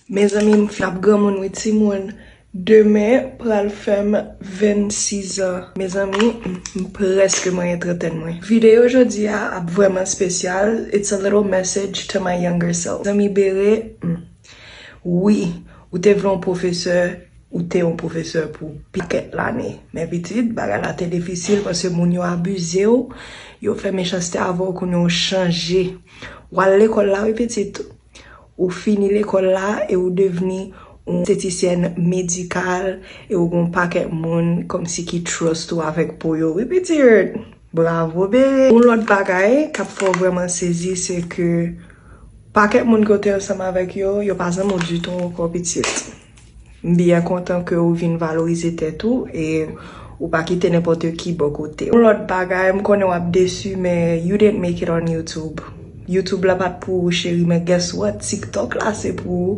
Mezanmi m finn ap granmoun wi timoun demen pral fèm 26 ans mezanmi m prèske manyen trantèn mwen video jodi a ap vrèman spesyal it's a little message to my younger self zanmi bere m wi ou te vle yon pwofesè ou te yon pwofesè pou pakèt lane men pitit bagay la te difisil paske moun yo abize w yo fè mechanste avè w kounye a w chanje wal lekòl la wi pitit. Ou fini lekòl la e ou devni yon estetisyèn medikal e ou gen yon pakèt moun kòmsi ki trust ou avèk po yo wi pitit! Bravo bee! Yon lòt bagay k ap fè w vrèman sezi se ke pakèt moun ke w te ansanm avèk yo, yo pa zanmi w ditou ankò pitit! M byen kontan ke ou vin valorize tèt ou e ou pa kite nenpòte ki bò kote w. Yon lòt bagay, m konnen w ap desu men you didn't make it on YouTube. YouTube la pat pou ou cheri men guess what, TikTok la se pou ou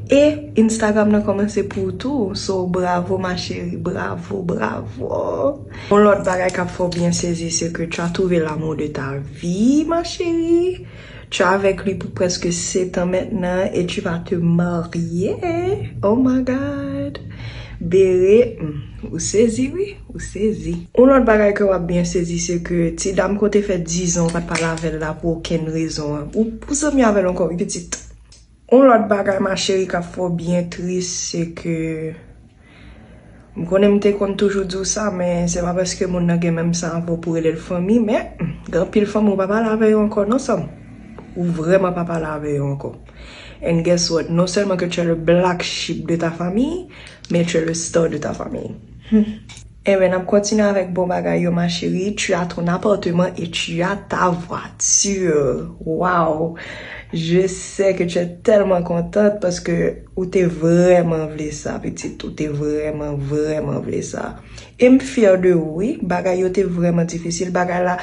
e Instagram nan kòmanse pou ou tou so bravo ma chérie, bravo, bravo. Yon lòt bagay k ap fè w byen sezi se ke tu as trouvé l'amour de ta vie ma chérie. Tu avec lui pou preske setan mentnan et tu vas te marye oh my God Bere humm ou sezi wi ou sezi. Yon lòt bagay ke wap byen sezi se ke ti dam ke w te fè 10 ans w pat pale avèl la pou okenn rezon an ou zanmi avèl ankò wi pitit. Yon lòt bagay ma chérie kap fè w byen tris se ke m konnen m te konn toujou di w sa men se pa paske moun nan gen menm san avè w pou w rele l fanmi men gen anpil fanmi w pa pale avè yo ankò non sè m ou vrèman pa pale avè yo ankò and guess what non sèlman ke tu es le black sheep de ta famille men tu es le star de ta famille. Humm Enben nap kontinye avèk bon bagay yo ma chérie tu as ton appartement et tu as ta voiture waww je sais que tu es tellement contente parce que ou te vrèman vle sa pitit ou te vrèman vrèman vle sa em fière de ou wi bagay yo te vrèman difisil bagay la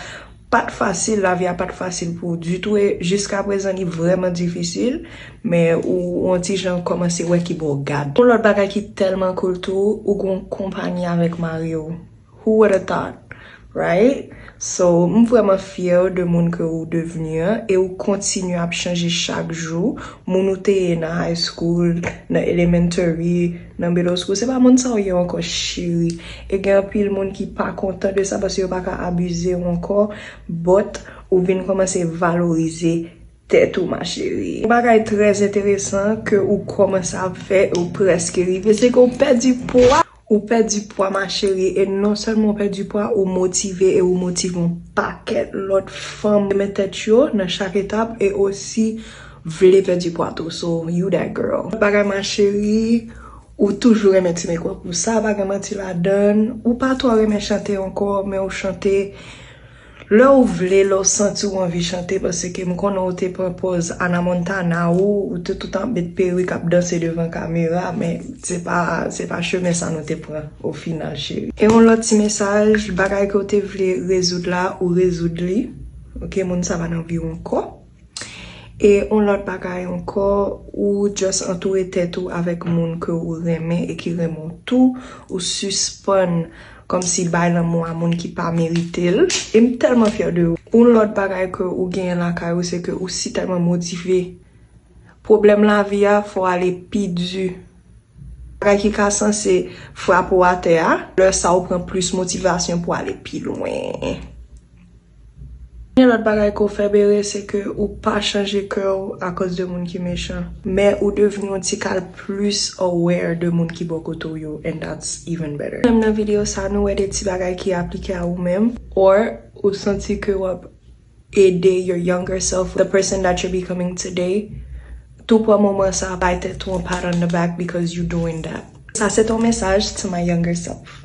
Pat fasil lavi a pat fasil pou ou ditou e jiska prezan li vrèman difisil men ou on ti jan kòmanse wè ki bo gad. On lòt bagay ki tèlman cool tou ou gen on konpagnie avèk mariw who woulda thought right so m vrèman fyèw de moun ke ou devenu an e ou kontinye ap chanje chak jou moun ou te ye nan high school nan elementary Nan belosco se pa moun sa ou ye ankò cheri e gen anpil moun ki pa kontan de sa paske yo pa ka abize ou ankò but ou vin kòmanse valorize tèt ou ma cheri. Yon bagay trè enteresan ke ou kòmanse ap fè e ou prèske rive se ke ou pèdi pwa, ou pèdi pwa ma cheri e non sèlman ou pèdi pwa ou motive e ou motive yon pakèt lòt fanm renmen tèt yo nan chak etap e osi Vle pèdi pwa tou so you that girl. Bon bagay ma cherie ou toujou renmen ti mekòp ou sa pa gen manti ladann ou pa twò renmen chante ankò men ou chante lè ou vle lè ou santi ou anvi chante paske m konnen ou te pran pòz Ana Montana ou ou te tout ap met perik ap danse devan kamera men se pa se pa chemen sa nou te pran o final cheri. E yon lòt ti mesaj bagay ke ou te vle rezoud la ou rezoud li ok moun sa pa nan vi w ankò. E yon lòt bagay ankò, ou just antoure tèt ou avèk moun ke ou renmen e ki renmen w tou, ou sispann kòmsi bay lanmou a moun ki pa merite l, e m tèlman fyè de ou. Yon lòt bagay ke ou genyen lakay ou se ke ou si tèlman motive. Pwoblèm lavi a fè w ale pi di. Bagay ki ka sanse frape w atè a, lè sa ou pran plis motivasyon pou ale pi lwen. Premye lòt bagay ke w fè Bere se ke ou pa chanje kè w akoz de moun ki mechan, men ou devni yon ti kal plis aware de moun ki bò kote w yo and that's even better. Menm nan video sa nou wè de ti bagay ki aplike a ou menm or ou santi ke w ap ede your younger self, the person that you're becoming today, tou pran moman sa bay tèt ou yon pat on the back because you doing that. Sa se ton mesaj to my younger self.